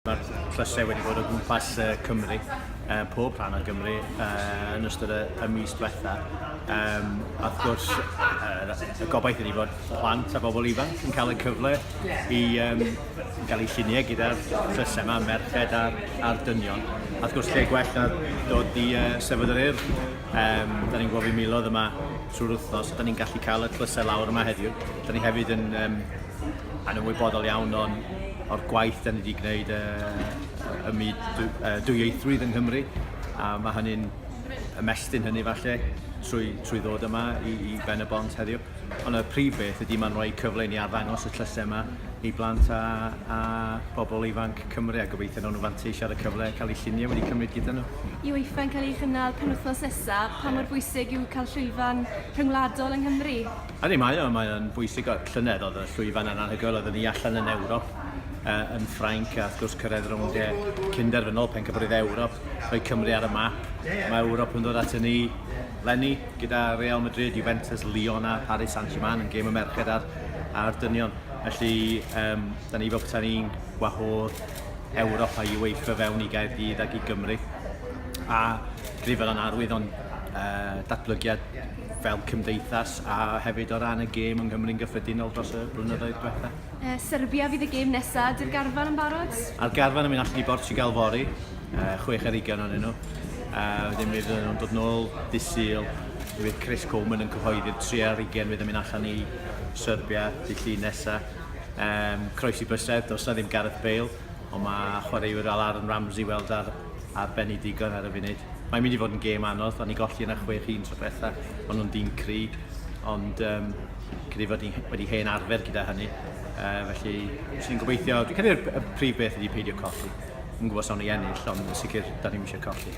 Mae'r tlysau wedi bod o gwmpas uh, Cymru, uh, pob rhan o Gymru, uh, yn ystod y, y mis diwetha. Um, a wrth gwrs, uh, y gobaith ydy bod plant a bobl ifanc yn cael y cyfle i um, gael eu lluniau gyda'r tlysau yma, merched a'r, ar dynion. A wrth gwrs, lle gwell na dod i uh, sefyd yr urdd. Um, da ni'n gwybod fi milodd yma trwy'r wythnos, da ni'n gallu cael y tlysau lawr yma heddiw. Da ni hefyd yn um, yn ymwybodol iawn o'n, o'r gwaith da ni wedi gwneud y, y myd dwyieithrwydd yng Nghymru, a mae hynny'n ymestyn hynny falle trwy, trwy ddod yma i, i Ben y Bont heddiw. Ond y prif beth ydy mae'n rhoi cyfle ni arddangos y tlysau yma i blant a, a bobl ifanc Cymru a gobeithio nhw'n fanteisio ar y cyfle cael eu lluniau wedi cymryd gyda nhw. Yw Eiffau'n cael ei chynnal penwythnos nesaf, pa mor bwysig yw cael llwyfan rhyngwladol yng Nghymru? Ydy, mae o, mae o'n bwysig. O, llynedd oedd y llwyfan yn anhygoel, oedden ni allan yn Ewrop, uh, yn Ffrainc, a wrth gwrs cyrraedd rownd e cynderfynol pencampwriaeth Ewrop, rhoi Cymru ar y map. Mae Ewrop yn dod at ni lenni gyda Real Madrid, Juventus, Lyon a Paris Saint-Germain yn gêm y merched a'r, a'r dynion. Felly, um, da ni fel peta'n ni'n gwahodd Ewrop a UEFA fewn i Gaerdydd ac i Gymru. A grifel yn arwydd o'n uh, datblygiad fel cymdeithas a hefyd o ran y gêm yng Nghymru'n gyffredinol dros y blynyddoedd diwetha? Uh, Serbia fydd y gêm nesaf, di'r garfan yn barod? A'r garfan yn mynd allan i Bortugal fori, uh, chwech ar ugain o'n nhw. Uh, wedyn mi fydden nhw'n dod nôl disil, mi fydd Chris Coleman yn cyhoeddi'r 3 ar ugain fydd yn mynd allan i Serbia, di llun nesaf. Um, croesi bysedd, dos na ddim Gareth Bale, ond mae chwaraewyr fel Aaron Ramsey weld ar a Ben i digon ar y funud. Mae'n mynd i fod yn gêm anodd, o'n ni golli yna chwech un tro bella, o'n nhw'n dîm cry, ond um, credu fod ni wedi hen arfer gyda hynny. Uh, felly, sy'n gobeithio, dwi'n credu y prif beth ydi peidio colli. Yn gwybod sawn i ennill, ond yn sicr, da ni'n eisiau colli.